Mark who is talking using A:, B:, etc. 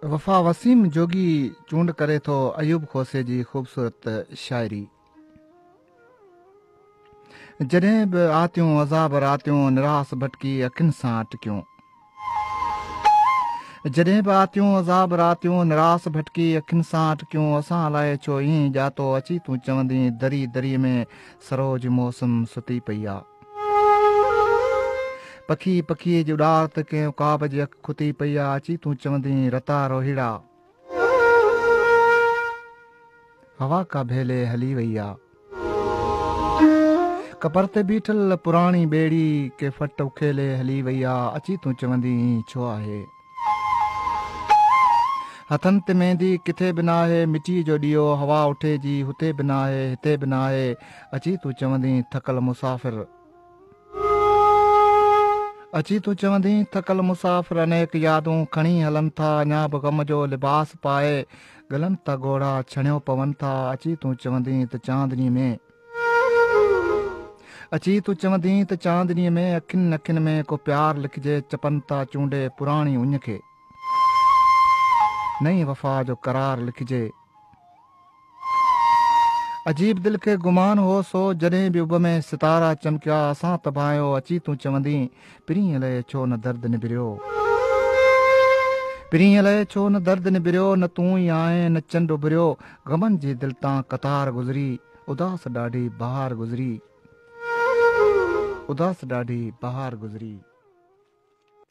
A: وفا وسيم جوڳي چونڊ ڪري ٿو ايوب کوسي جي خوبصورت شاعري جڏهن به آتيون عذاب راتيون نراس ڀٽڪي اکين سان ٽڪيون جڏهن به آتيون عذاب راتيون، نراس ڀٽڪي اکين سان اٽڪيون، اسان الائي ڇو ائين ڄاتو، اچي تون چوندين دري دري ۾، سروج موسم ستي پئي آ. پکي پکي جي اڏار تي ڪنهن عقاب جي اک کتي پئي آ، اچي تون چوندين رتا روهيڙا. هوا ڪاڀيلي هلي وئي آ. ڪپر تي بيٺل پراڻي ٻيڙي ڪي فٽ اکيلي هلي وئي آ. اچي تون چوندين هي ڇو آهي. هٿن تي ميندي ڪٿي به ناهي. مٽيء جو ڏيئو هوا اٺي جي هتي به ناهي هتي به ناهي. اچي تون چوندين ٿڪل مسافر. اچي تون چوندين ٿڪل مسافر انيڪ يادون کڻي هلن ٿا اڃا به غم جو لباس پائي گلن تا گهوڙا ڇڻيو پون ٿا اچي تون چوندين ته چاندني ۾ اچي تون چوندين ته چاندني ۾ اکين اکين ۾ ڪو پيار لکجي چپن تا چونڊي پراڻي اڃ کي نئين وفا جو قرار لکجي عجيب دل کي گمان هو سو، جڏهن به اڀ ۾ ستارا چمڪيا، اسان تڀانيو اچي تون چوندين، پرينء لئي ڇو نه درد نبريو. پرينء لئي ڇو نه درد نبريو، نه تون ئي آهين نه چنڊ اڀريو، غمن جي دل تان قطار گذري، اداس ڏاڍي بهار گذري، اداس ڏاڍي بهار گذري.